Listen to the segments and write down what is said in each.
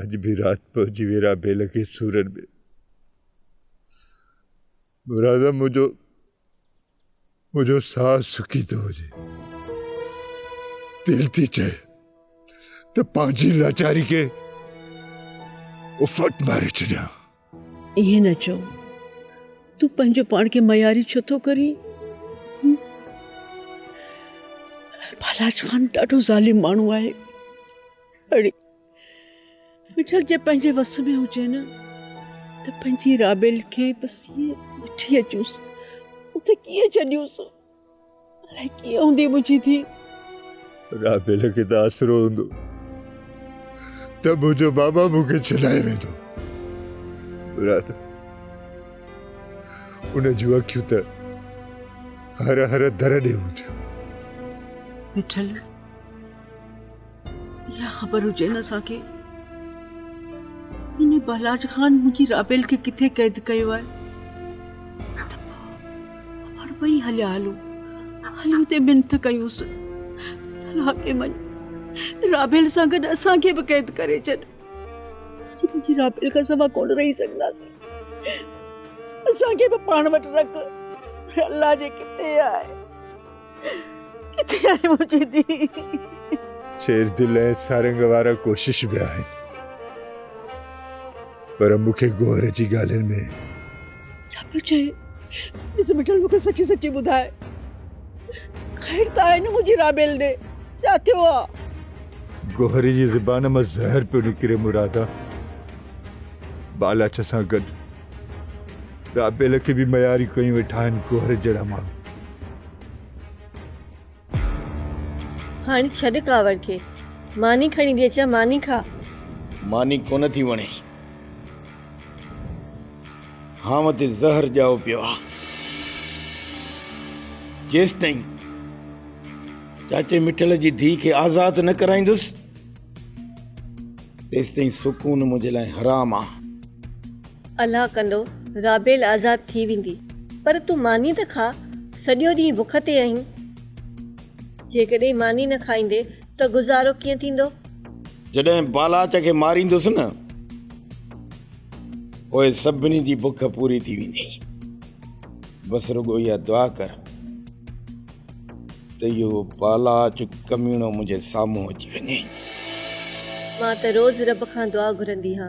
اڄ به رات پهچي ويرا بيل کي سورن ۾ مرادم منهنجو منهنجو ساهه سڪي ٿو وڃي دل ٿي چئي ته پنهنجي لاچاري کي افٽ ماري ڇڏيان ائين نه چئو تون پنهنجو پاڻ کي معياري ڇو ٿو ڪرين بالاج خان ڏاڍو ظالم ماڻهو آهي اڙي مٺل جي پنهنجي وس ۾ هجي نه ته پنهنجي رابيل کي بس ائين وٺي اچوس اتي ڪيئن ڇڏيوس الائي ڪيئن هوندي منهنجي ڌي. رابيل کي ته آسرو هوندو ته منهنجو ماما مون کي ڇڏائي ويندو. مراد ان جون اکيون ته هر هر در ڏي هونديون. مٺل. اها خبر هجي نه اسان کي هن بلاج خان منهنجي رابيل کي ڪٿي قيد ڪيو آهي ته پاڻ ٻئي هليا هلو هلي اتي منٿ ڪيوس لاکي مڃ رابيل سان گڏ اسان کي به قيد ڪري ڇڏ اسين پنهنجي رابيل کان سوا ڪونه رهي سگهنداسين اسان کي به پاڻ وٽ رک الله جي ڪٿي آهي ڪٿي آهي منهنجي ڌيء. شير دل ۽ سارنگ وارا ڪوشش به آهن پر مون کي گوهر جي ڳالهين ۾ ڇا پيو چئين ڏس مٺل مون کي سچي سچي ٻڌاء خير ته آهي نه منهنجي رابيل ڏي ڇا ٿيو آهي. گوهر جي زبان مان زهر پيو نڪري مرادا بالاچ سان گڏ رابيل کي به مياري ڪيون ويٺا آهن گوهر جهڙا ماڻهو. هاڻي ڇڏ ڪاوڙ کي. ماني کڻي ڏي اچان ماني کا. ماني ڪونه ٿي وڻي. هانء تي زهر ڄائو پيو آ. جيستائين چاچي مٺل جي ڌيء کي آزاد نه ڪرائيندس. تيستائين سڪون منهنجي لاء حرام آ. الله ڪندو رابيل آزاد ٿي ويندي. پر تون ماني ته کاء، سڄو ڏينهن بک تي آهين. جيڪڏهن ماني نه کائيندي ته گذارو ڪيئن ٿيندو؟ جڏهن بالاچ کي ماريندس نه، پوء سڀني جي بک پوري ٿي ويندي. بس رڳو اها دعا ڪر ته اهو پالاچ ڪميڻو منهنجي سامهون اچي وڃي. مان ته روز رب کان دعا گهرندي ها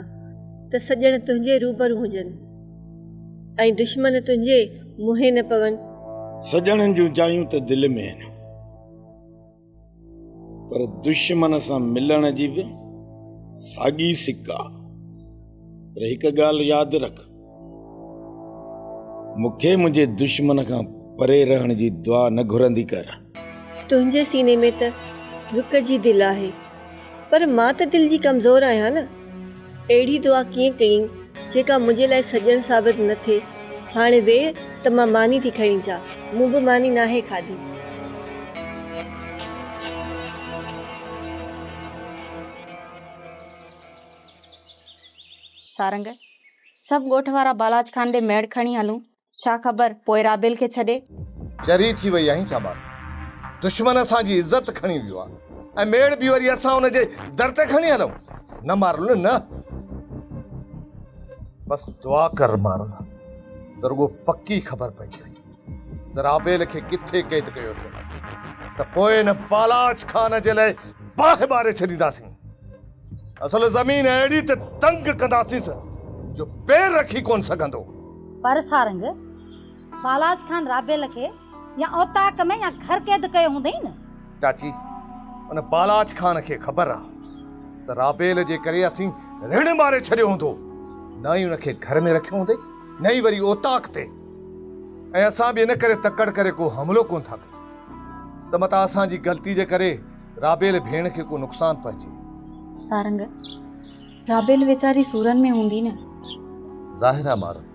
ته سڄڻ تنهنجي روبرو هجن ۽ دشمن تنهنجي منهين نه پون. سڄڻن جون جايون ته دل ۾ آهن. پر دشمن سان ملڻ جي به ساڳي سڪ آ پر هڪ ڳالهه ياد رک مون کي منهنجي دشمن کان پري رهڻ جي دعا نه گهرندي ڪر. تنهنجي سيني ۾ ته رڪ جي دل آهي. پر مان ته دل جي ڪمزور آهيان نه. اهڙي دعا ڪيئن ڪيئين جيڪا منهنجي لاء سڄڻ ثابت نه ٿئي. هاڻي ويهه ته مان ماني ٿي کڻي اچان. مون به ماني ناهي کاڌي. سارنگ، سڀ ڳوٺ وارا بالاچ خان ڏي ميڙ کڻي هلون. ڇا خبر پوء رابيل کي ڇڏي. چري ٿي وئي آهين ڇا ٻار. دشمن اسان جي عزت کڻي ويو آ ۽ ميڙ به وري اسان ان جي در تي کڻي هلون. نه مارل نه. بس دعا ڪر مارل ته رڳو پڪي خبر پئجي وڃي ته رابيل کي ڪٿي قيد ڪيو اٿئي ته پوء ان بالاچ خان جي لاء باهه ٻاري ڇڏينداسين. اصل زمين اهڙي ته تنگ ڪنداسينس جو پير رکي ڪونه سگهندو. پر سارنگ، بالاچ خان رابيل کي يا اوطاق ۾ يا گهر قيد ڪيو هوندئي نه؟ چاچي، ان بالاچ خان کي خبر آ ته رابيل جي ڪري اسين رڻ ماري ڇڏيو هوندو. نه ئي ان کي گهر ۾ رکيو هوندئي، نه ئي وري اوطاق تي. ۽ اسان به ان ڪري تڪڙ ڪري ڪو حملو ڪونه ٿا ڪيون ته متان اسان جي غلطي جي ڪري رابيل ڀيڻ کي ڪو نقصان پهچي. سارنگ، رابيل ويچاري سورن ۾ هوندي نه. ظاهر آ مارن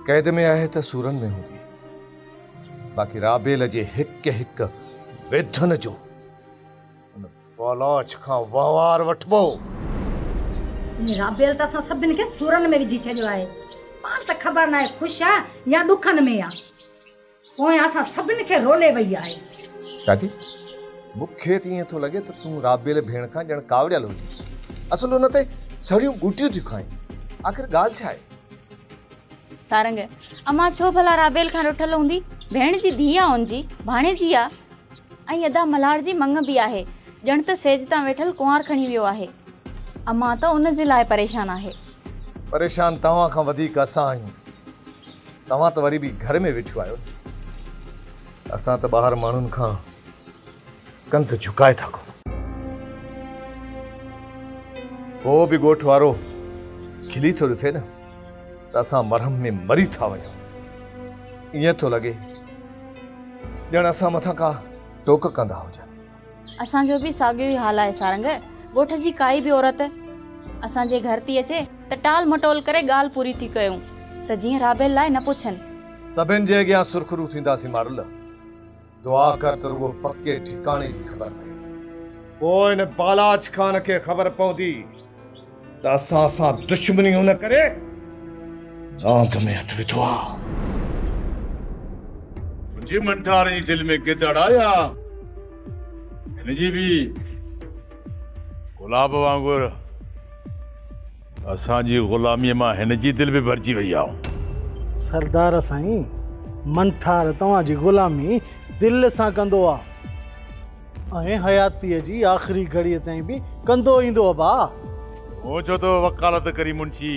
قيد ۾ آهي ته سورن ۾ هوندي باقي رابيل جي هڪ هڪ ويڌن جو ان بالاچ کان وهنوار وٺبو. هن رابيل ته اسان سڀن کي سورن ۾ وجهي ڇڏيو آهي. پاڻ ته خبر ناهي خوش آ يا ڏکن ۾ آ. پويان اسان سڀن کي رولي وئي آهي. چاچي، مون کي ته ائين ٿو لڳي ته تون رابيل ڀيڻ کان ڄڻ ڪاوڙيل هجين. اصل ان تي سڙيون ٻوٽيون ٿيون کائين. آخر ڳالهه ڇا آهي؟ سارنگ، امان ڇو ڀلا رابيل کان رٺل هوندي؟ ڀيڻ جي ڌيء آ ان جي، ڀاڻيجي آ. ۽ ادا ملهاڙ جي مڱ به آهي. ڄڻ ته سيج تان ويٺل ڪنوار کڻي ويو آهي. امان ته ان جي لاء پريشان آهي. پريشان توهان کان وڌيڪ اسان آهيون. توهان ته وري به گهر ۾ ويٺيون آهيو نه. اسان ته ٻاهر ماڻهن کان ڪنڌ جهڪائي ٿا گهمون. ڪو به ڳوٺ وارو کلي ٿو ڏسي نه ته اسان مرهم ۾ مري ٿا وڃون. ائين ٿو لڳي ڄڻ اسان مٿان ڪا ٽوڪ ڪندا هجن. اسان جو به ساڳيو ئي حال آهي سارنگ. ڳوٺ جي ڪائي به عورت اسان جي گهر ٿي اچي ته ٽال مٽول ڪري ڳالهه پوري ٿي ڪيون ته جيئن رابيل لاء نه پڇن. سڀن جي اڳيان سرخرو ٿينداسين مارل. دعا ڪر ته رڳو پڪي ٺڪاڻي جي خبر پئي. پوء هن بالاچ خان کي خبر پوندي. ته اسان سان دشمني ان ڪري ڏانگ ۾ هٿ وڌو آ. منهنجي منٺار جي دل ۾ گدڙ آ يا هن جي به گلاب وانگر اسان جي غلاميء مان هن جي دل به ڀرجي وئي آ. سردار سائين منٺار توهان جي غلامي دل سان ڪندو آ. ۽ حياتيء جي آخري گهڙيء تائين به ڪندو ايندو ابا. مون چيو ته وڪالت ڪري منشي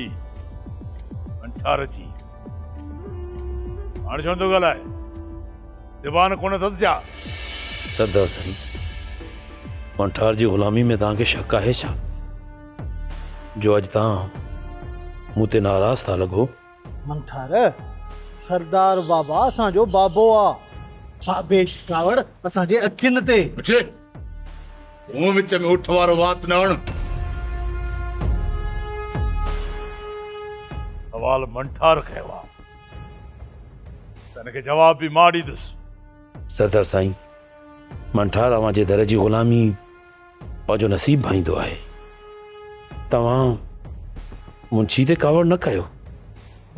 انٺارچي هاڻ ڇونه ٿو ڳالهائي؟ زبان ڪونه اٿس ڇا؟ سردار سائين انٺار جي غلامي ۾ توهان کي شڪ آهي ڇا جو اڄ توهان مون تي ناراض ٿا لڳو؟ منٺار، سردار بابا اسان جو بابو آ. بابي جي ڪاوڙ اسان جي اکين تي. بچي! مون وچ ۾ اٺ وارو وات نه اڻ. سوال منٺار ڪيو آ ته ان کي جواب به مان ڏيندس. سردار سائين! منٺار اوهان جي در جي غلامي. پنهنجو نصيب ڀائيندو آهي توهان منشي تي ڪاوڙ نه ڪيو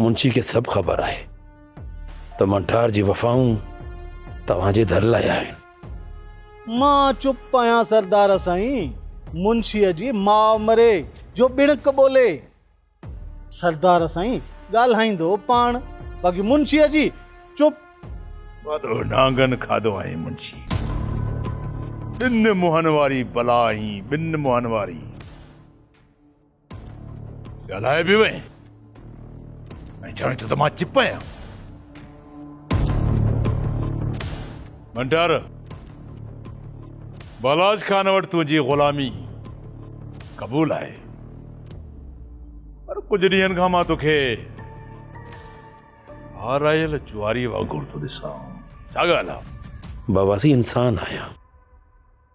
منشي کي سڀ خبر آهي ته منٺار جي وفائون توهان جي ڌر لاء آهن مان چپ آهيان سردار سائين منشيء جي ماء مري جو ٻڻڪ ٻولي. سردار سائين ڳالهائيندو پاڻ باقي منشيء جي چپ. وڏو نانگن کاڌو آهين منشي. ٻن منهن واري بلا آهين ٻن منهن واري. ڳالهائي به وئين ۽ چوين ٿو ته مان چپ آهيان. ڀنڊار بلاج خان وٽ تنهنجي غلامي قبول آهي پر ڪجهه ڏينهن کان مان توکي هارايل جواري وانگر ٿو ڏسان ڇا ڳالهه بابا سي انسان آهيان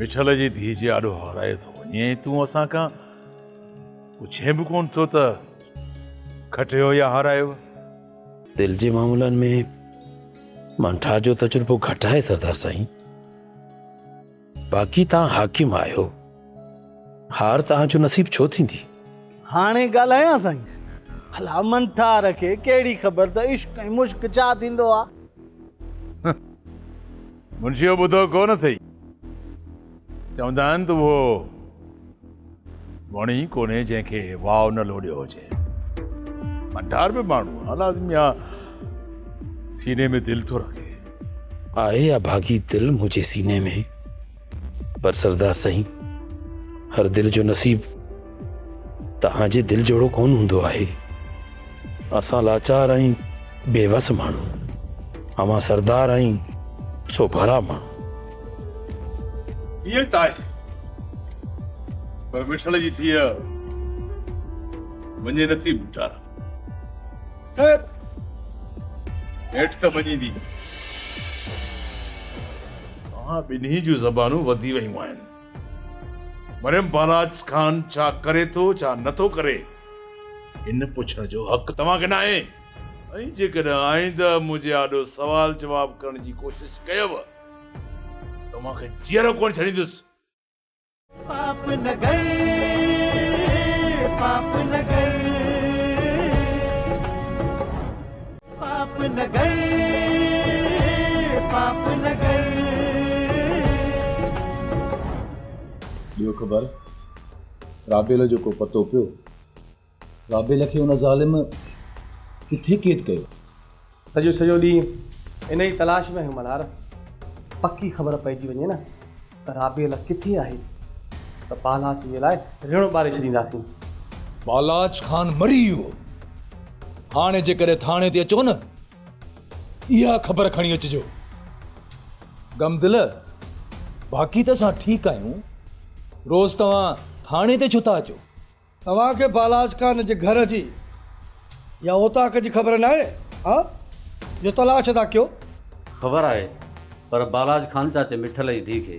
مٺل جي ڌيء جي آڏو هارايو ٿو وڃي ۽ تون اسان کان پڇين به ڪونه ٿو ته کٽيو يا هارايو. دل جي معاملن ۾ مان ٺاهه جو تجربو گهٽ آهي سردار سائين. باقي توهان حاڪم آهيو. هار توهان جو نصيب ڇو ٿيندي؟ هاڻي ڳالهايان سائين. ڀلا من ٺار کي ڪهڙي خبر ته عشق ۽ مشق ڇا ٿيندو آهي. منشيء ٻڌو ڪو نه ٿئي. چوندا آهن ته اهو وڻ ئي ڪونهي جنهن کي واء نه لوڏيو هجي. ڀنڊار به ماڻهو آ لازمي آ سيني ۾ دل ٿو رکي. آهي اڀاڳي دل منهنجي سيني ۾، پر سردار سائين هر دل جو نصيب توهان جي دل جهڙو ڪونه هوندو آهي. اسان لاچار آهيون بي وس ماڻهو اوهان سردار آهيون سو ڀرا ماڻهو ائين ته آهي پر مٺڙ جي ٿيء مڃي نه ٿي مٺا خير هيٺ ته مڃيندي اوهان ٻنهي جون زبانون وڌي ويون آهن مريم بالاچ خان ڇا ڪري ٿو ڇا نه ٿو ڪري ان پڇڻ جو حق توهان کي ناهي ۽ جيڪڏهن آئنده منهنجي آڏو سوال جواب ڪرڻ جي ڪوشش ڪيئو ته اوهان کي جيئرو ڪونه ڇڏيندس. پاپ نگر پاپ نگر. ڏيو خبر رابيل جو ڪو پتو پيو؟ رابيل کي ان ظالم ڪٿي قيد ڪيو؟ سڄو سڄو ڏينهن ان ئي تلاش ۾ هيم ملهار، پڪي خبر پئجي وڃي نه. رابيل ڪٿي آهي ته بالاچ جي لاء ريڻو ٻاري ڇڏينداسين. بالاچ خان مري ويو. هاڻي جيڪڏهن ٿاڻي تي اچو نه اها خبر کڻي اچجو. غم دل، باقي ته اسان ٺيڪ آهيون، روز توهان ٿاڻي تي ڇو ٿا اچو؟ توهان کي بالاچ خان جي گهر جي يا اوطاق جي خبر ناهي ها جو تلاش ٿا ڪيو. خبر آهي پر بالاچ خان چاچي مٺل جي ڌي کي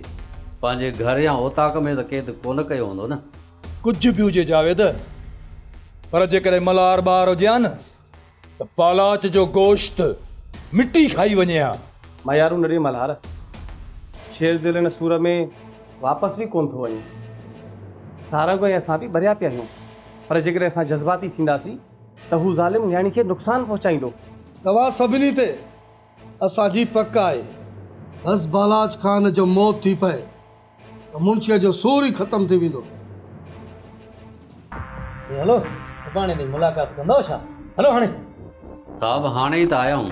پنهنجي گهر يا اوطاق ۾ ته قيد ڪونه ڪيو هوندو نه. ڪجهه به هجي جاويد پر جيڪڏهن ملهار ٻار هجي ها نه ته پالاچ جو گوشت مٽي کائي وڃي ها. ميارون نڙي ملهار شير دل ان سور ۾ واپس به ڪونه ٿو وڃي. سارنگ ۽ اسان به ڀريا پيا آهيون پر جيڪڏهن اسان جذباتي ٿينداسين ته هو ظالم نياڻي کي نقصان پهچائيندو. توهان سڀني تي اسان جي پڪ آهي. بس بالاچ خان جو موت ٿي پئي. ته منشيء جو سور ئي ختم ٿي ويندو. اي هلو، سڀاڻي تائين ملاقات ڪندؤ ڇا؟ هلو هاڻي. صاحب هاڻي ئي ته آيا آهيون،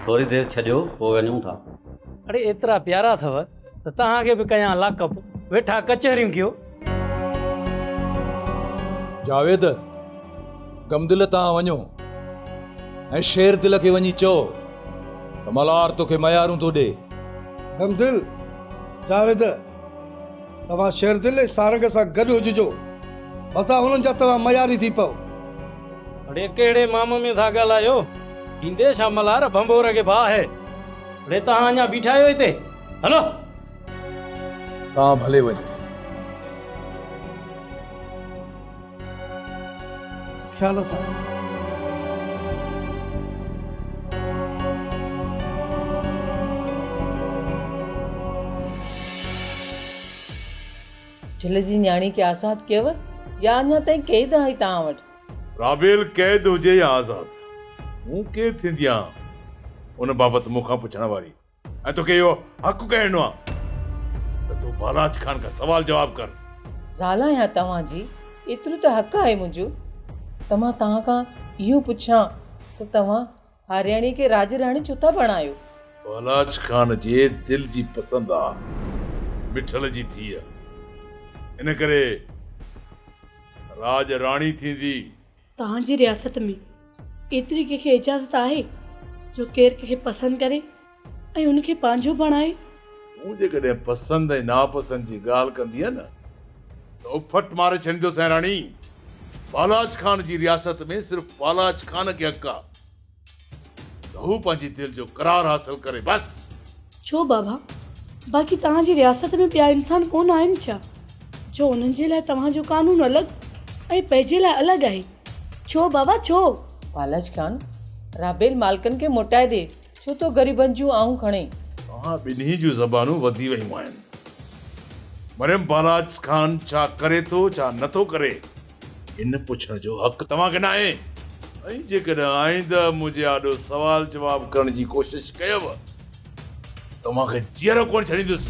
ٿوري دير ڇڏيو پوء وڃون ٿا. اڙي ايترا پيارا اٿو ته توهان کي به ڪيان لاڪ اپ، ويٺا ڪچهريون ڪيو. جاويد! غمدل تان وڃو ۽ شير دل کي وڃي چئو ته ملهار توکي ميارون ٿو ڏي. غمدل، جاويد، توهان شير دل ۽ سارنگ سان گڏ هججو، متان هنن جا توهان مياري ٿي پئو. اڙي ڪهڙي مام ۾ ٿا ڳالهايو، ڏيندي ڇا ملهار ڀنڀور کي باهه. اڙي توهان اڃا بيٺا آهيو هتي، هلو. تان ڀلي وڃ. خيال سان. جھل جي نياڻي کي آزاد ڪيو يا اڃا تائين قيد آهي توهان وٽ؟ رابيل قيد هجي يا آزاد مون ڪير ٿيندي آهيان ان بابت مون کان پڇڻ واري؟ ۽ توکي اهو حق ڪنهن ڏنو آهي ته تون بالاچ خان کان سوال جواب ڪر؟ زال آهيان توهان جي، ايترو ته حق آهي منهنجو ته مان توهان کان اهو پڇان ته توهان هارياڻيء کي راڄ راڻي ڇو ٿا بڻايو؟ بالاچ خان جي دل جي پسند آ مٺل جي ڌيء، ان ڪري راڄ راڻي ٿيندي. توهان جي رياست ۾ ايتري ڪنهن کي اجازت آهي جو ڪير ڪنهن کي پسند ڪري ۽ ان کي پنهنجو بڻائي؟ مون جيڪڏهن پسند ۽ ناپسند جي ڳالهه ڪندينء نه ته اڦٽ ماري ڇڏيندوسانء راڻي! پالاچ خان جي رياست ۾ صرف پالاچ خان کي حق آ. ته هو پنهنجي دل جو قرار حاصل ڪري بس. ڇو بابا باقي توهان جي رياست ۾ ٻيا انسان ڪونه آهن ڇا جو انهن جي لاء توهان جو قانون الڳ ۽ پنهنجي لاء الڳ آهي ڇو بابا ڇو. پالج خان رابيل مالڪن کي موٽائي ڏي ڇو تو غريبن جون آهون کڻي. توهان ٻنهي جون زبانون وڌي ويون آهن مريم پالاج خان ڇا ڪري ٿو ڇا نٿو ڪري. ان پڇڻ جو حق توهان کي ناهي ۽ جيڪڏهن آئنده منهنجي آڏو سوال جواب ڪرڻ جي ڪوشش ڪيو ته توهان کي جيئرو ڪونه ڇڏيندس.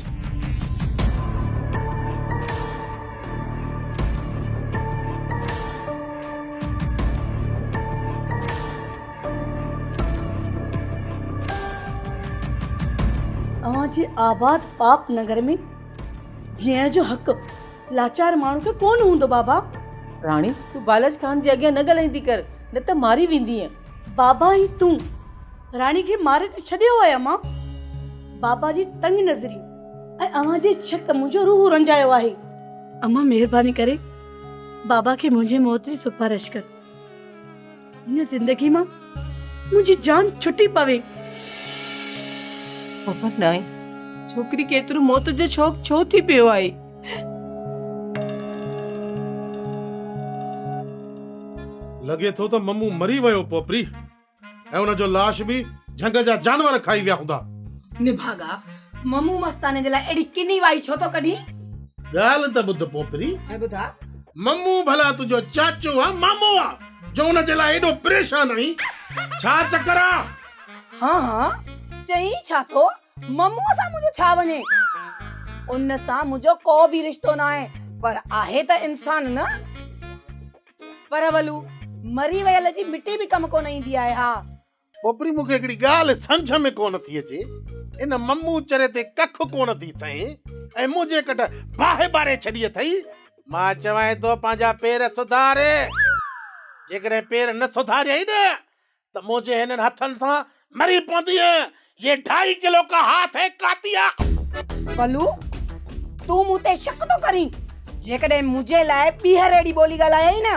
اوهان جي آباد پاپ نگر ۾ جيئڻ جو حق. لاچار ماڻهو کي ڪو نه هوندو بابا. راڻي تون بالچ خان جي اڳيان نه ڳالهائيندي ڪر نه ته ماري ويندينء. بابا هي تون راڻي کي ماري ته ڇڏيو آهي امان. بابا جي تنگ نظري ۽ اوهان جي ڇڪ منهنجو روح رنجايو آهي. امان مهرباني ڪري بابا کي منهنجي موت جي سفارش ڪر. هن زندگي مان منهنجي جان ڇٽي پوي. خبر ناهي ڇوڪري کي ايترو موت جو شوق ڇو ٿي پيو آهي. لڳي ٿو ته ممون مري ويو پوپري ۽ ان جو لاش به جهنگ جا جانور کائي ويا هوندا. نڀاڳا، ممون مستاني جي لاء اهڙي ڪني وائي ڇو ٿو ڪڍين؟ ڳالهه ته ٻڌ پوپري. ۽ ٻڌاء. ممون ڀلا تنهنجو چاچو آ مامو آ؟ جو ان جي لاء ايڏو پريشان آهين، ڇا چڪر آ؟ ها ها، چئين ڇا ٿو، مموء سان منهنجو ڇا وڃي، ان سان منهنجو ڪو به رشتو ناهي، پر آهي ته انسان نه! پر ولو، مري ويل جي مٽي به ڪم ڪونه ايندي آهي ها، ٻٻري مون کي هڪڙي ڳالهه سمجهه ۾ ڪونه ٿي اچي، ان ممون چري تي ڪک ڪونه ٿي سهين ۽ منهنجي ڪڍ باهه ٻاري ڇڏي اٿئي. مان چوانء ٿو پنهنجا پير سڌار. جيڪڏهن پير نه سڌاريائين نه ته منهنجي هنن هٿن سان مري پوندينء. يي ڍائي ڪلو ڪا هاٿ هي ڪاتي آ. بلو! تون مون تي شڪ ٿو ڪرين؟ جيڪڏهن منهنجي لاء ٻيهر اهڙي ٻولي ڳالهايائين نه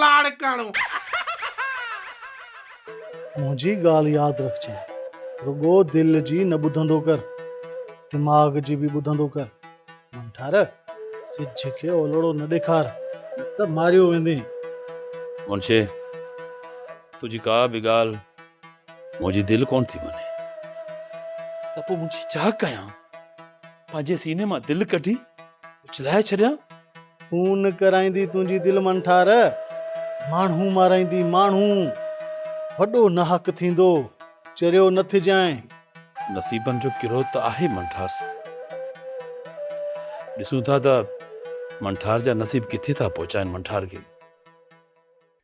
لاڙڪاڻو. منهنجي ڳالهه ياد رکجي. رڳو دل جي نه ٻڌندو ڪر، دماغ جي به ٻڌندو ڪر. من ٺار، سج کي اولهڙو نه ڏيکار، نه ته ماريو ويندين. منشي، تنهنجي ڪا به ڳالهه منهنجي دل ڪونه ٿي مڃي. ته پوء منشي ڇا ڪيان؟ پنهنجي سيني مان دل ڪڍي اڇلائي ڇڏيان؟ خون ڪرائيندي تنهنجي دل من ٺار. ماڻهو مارائيندي ماڻهو وڏو ناحق ٿيندو چريو نه ٿجانء. نصيبن جو ڪرو ته آهي من ٺار سان. ڏسون ٿا ته من ٺار جا نصيب ڪٿي ٿا پهچائين من ٺار کي.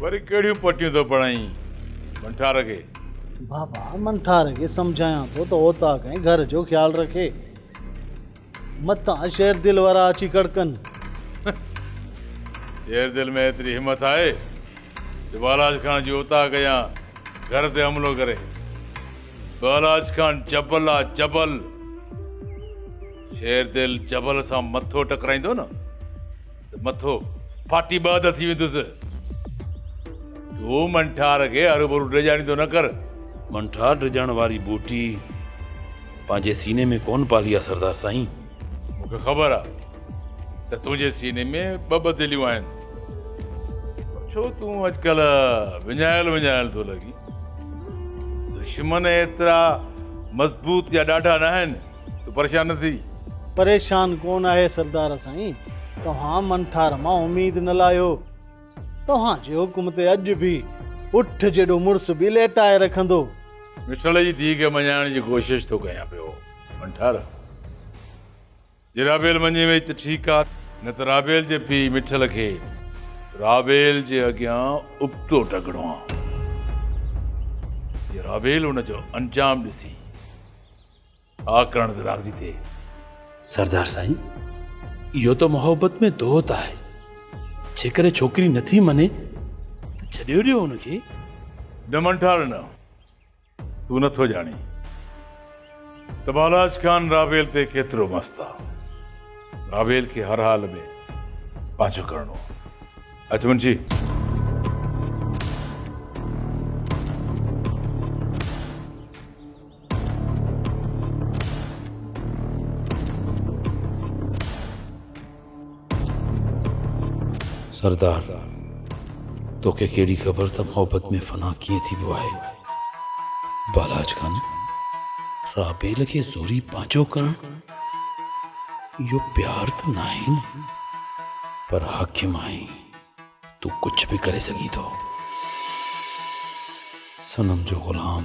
وري ڪهڙيون پٽيون ٿو پڙهائين منٺار کي؟ بابا منٺار کي سمجهايان ٿو ته اوطاق ۽ گهر جو خيال رکي. متان شير دل وارا اچي ڪڙڪن. شير دل ۾ ايتري همٿ آهي جو بالاچ خان جي اوطاق يا گهر تي حملو ڪري. بالاچ خان جبل آ جبل. شير دل جبل سان مٿو ٽڪرائيندو نه. ته مٿو ڦاٽي ٻه اڌ ٿي ويندس. تون منٺار کي هروڀرو ڊڄاڻيندو نه ڪر. منٺار ڊڄڻ واري ٻوٽي پنهنجي سيني ۾ ڪونه پالي آهي سردار سائين. مون کي خبر آهي ته تنهنجي سيني ۾ ٻه ٻه دليون آهن پر ڇو تون اڄڪلهه وڃايل وڃايل ٿو لڳين. دشمن ايترا مضبوط يا ڏاڍا ناهن. تون پريشان نه ٿي. پريشان ڪونه آهي سردار سائين. توهان من ٺار مان اميد نه لاهيو. توهان جي حڪم تي اڄ به اٺ جيڏو مڙس به ليٽائي رکندو. مٺڙ جي ڌيء کي مڃائڻ جي ڪوشش ٿو ڪيان پيو من ٺار. جي رابيل مڃي وئي ته ٺيڪ آ نه ته رابيل جي پيء مٺڙ کي رابيل جي اڳيان ابتو ٽنگڻو آ. جي رابيل ان جو انجام ڏسي آء ڪرڻ تي راضي ٿئي. سردار سائين اهو ته محبت ۾ دوهه ته آهي جيڪڏهن ڇوڪري نٿي مڃي ته ڇڏيو ڏيو ان کي. نه منٺار نه تون نٿو ڄاڻين ته بالاچ خان راويل تي ڪيترو مست آ. راويل کي هر حال ۾ پنهنجو ڪرڻو آ. اچ منشي. سردار توکي ڪهڙي خبر ته محبت ۾ فنا ڪيئن ٿيبو آهي بالاچ خان رابيل کي زوري پنهنجو ڪرڻ اهو پيار ته ناهي نه پر حاڪم آهي تون ڪجهه به ڪري سگهين ٿو صنم جو غلام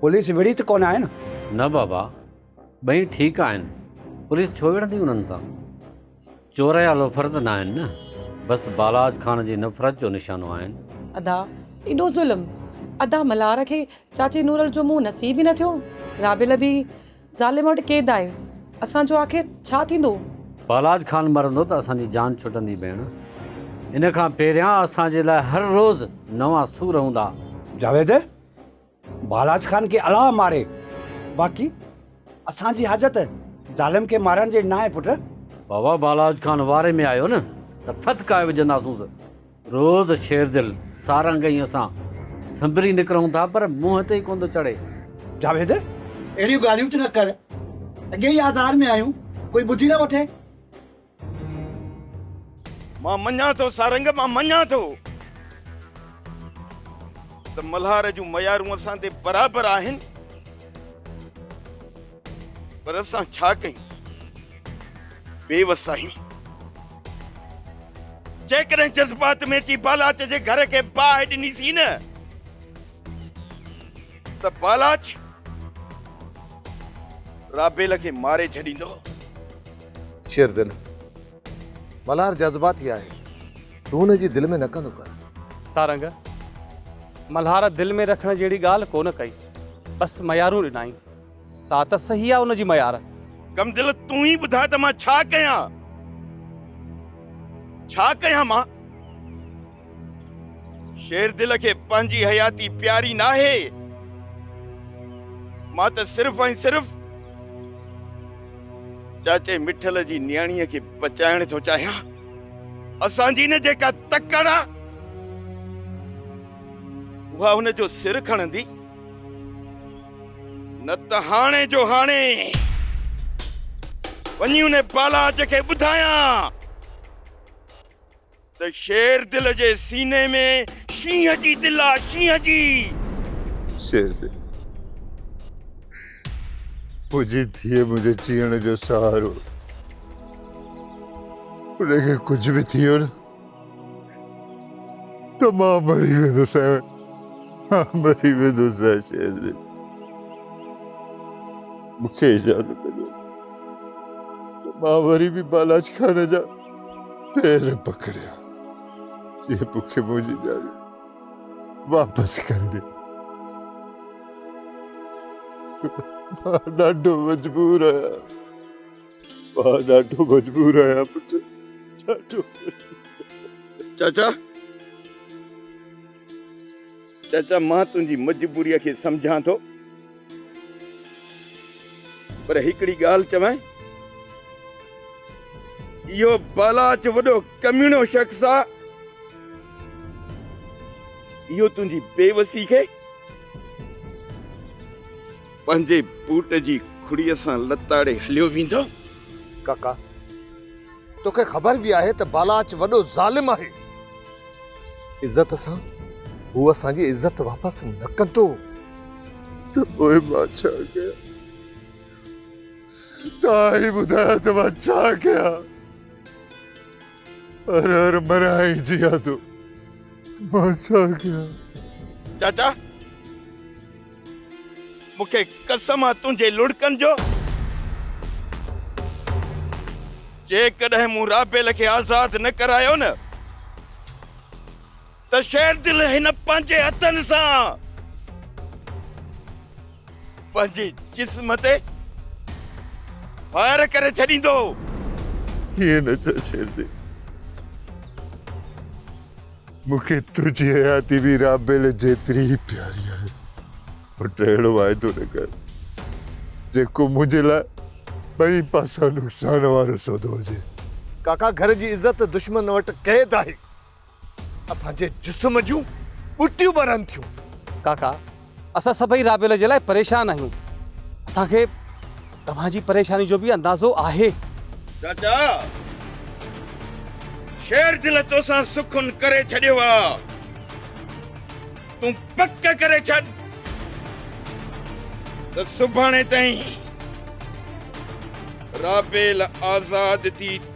پوليس وڙهي ته ڪونه آهي نه؟ نه بابا، ٻئي ٺيڪ آهن. پوليس ڇو وڙهندي انهن سان؟ چور يا لوفر ته ناهن نه؟ بس بالاچ خان جي نفرت جو نشانو آهن. ادا، ايڏو ظلم! ادا ملهار کي چاچي نورل جو منهن نصيب ئي نه ٿيو. رابيل به. ظالم وٽ قيد آهي اسان جو آخر ڇا ٿيندو؟ بالاچ خان مرندو ته اسان جي جان ڇٽندي ڀيڻ. ان کان پهريان اسان جي لاء هر روز نوان سور هوندا. جاويد بالاچ خان کي الاء ماري باقي اسان جي حاجت ظالم کي مارڻ جي ناهي پٽ. بابا بالاچ خان واري ۾ آيو نه ته ٿڌڪاء وجهنداسونس. روز شيردل سارنگ ۽ اسان سنبري نڪرون ٿا پر منهن تي ئي ڪونه ٿو چڙهي. جاويد اهڙيون ڳالهيون تون نه ڪر. اڳي ئي آزار ۾ آهيون ڪوئي ٻڌي نه وٺي. مان مڃان ٿو سارنگ مان مڃان ٿو ته ملهار جون ميارون اسان تي برابر آهن. پر اسان ڇا ڪيون بي وس آهيون. جيڪڏهن جذبات ۾ اچي بالاچ جي گهر کي باهه ڏني سين ته بالاچ رابيل کي ماري ڇڏيندو. شير دل ملهار جذباتي آهي تون هن جي دل ۾ نه ڪندو ڪر. سارنگ ملهار دل ۾ رکڻ جهڙي ڳالهه ڪونه ڪئي بس ميارون ڏنائين. سا ته صحيح آ ان جي ميار. ڪم دل تون ئي ٻڌاء ته مان ڇا ڪيان؟ ڇا ڪيان مان؟ شير دل کي پنهنجي حياتي پياري ناهي. مان ته صرف ۽ صرف چاچي مٺل جي نياڻيء کي بچائڻ ٿو چاهيان. اسان جي نه جيڪا تڪڙ آ اها هن جو سر کڻندي. نه ته هاڻي جو هاڻي وڃي ان بالاچ کي ٻڌايان ته شير دل جي سيني ۾ شينهن جي دل آ شينهن جي شير دل منهنجي ڌيء منهنجي جيئڻ جو سهارو ان کي ڪجهه به ٿي ويو نه ته مان مري ويندس مان مري ويندس شير جي مون کي اجازت ڏيو ته مان وري به بالاچ خان جا پير پڪڙيان جي مون کي منهنجي ڄاڻي واپس ڪري ڏي مان ڏاڍو مجبور آهيان مان ڏاڍو مجبور آهيان پٽ ڏاڍو چاچا چاچا مان تنهنجي مجبوريء کي سمجهان ٿو پر هڪڙي ڳالهه چوانء اهو بالاچ وڏو ڪميڻو شخص آ اهو تنهنجي بيوسي کي پنهنجي بوٽ جي کڙيء سان لتاڙي هليو ويندو. ڪاڪا! توکي خبر به آهي ته بالاچ وڏو ظالم آهي. عزت سان هو اسان جي عزت واپس نه ڪندو. ته پوء مان ڇا ڪيان؟ توهان ئي ٻڌايو ته مان ڇا ڪيان؟ هر هر مريان ۽ جيان ٿو. مان ڇا ڪيان؟ چاچا! مون کي قسم آ تنهنجي لڙڪن جو، جيڪڏهن مون رابيل کي آزاد نه ڪرايو نه ته شيردل هن پنهنجي هٿن سان پنهنجي جسم تي فائر ڪري ڇڏيندو. ائين نه چئه شيردل. مون کي تنهنجي حياتي به رابيل جيتري ئي پياري آهي. پٽ اهڙو واعدو نه ڪر جيڪو منهنجي لاء ٻئي پاسان نقصان وارو سودو هجي. ڪاڪا گهر جي عزت دشمن وٽ قيد آهي. اسان جي جسم جون ٻٽيون ٻرن ٿيون. ڪاڪا اسان سڀئي رابيل جي لاء پريشان آهيون. اسان کي توهان جي پريشاني جو به اندازو آهي. چاچا! شير دل توسان سخن ڪري ڇڏيو آ. تون پڪ ڪري ڇڏ ته سڀاڻي تائين رابيل آزاد ٿي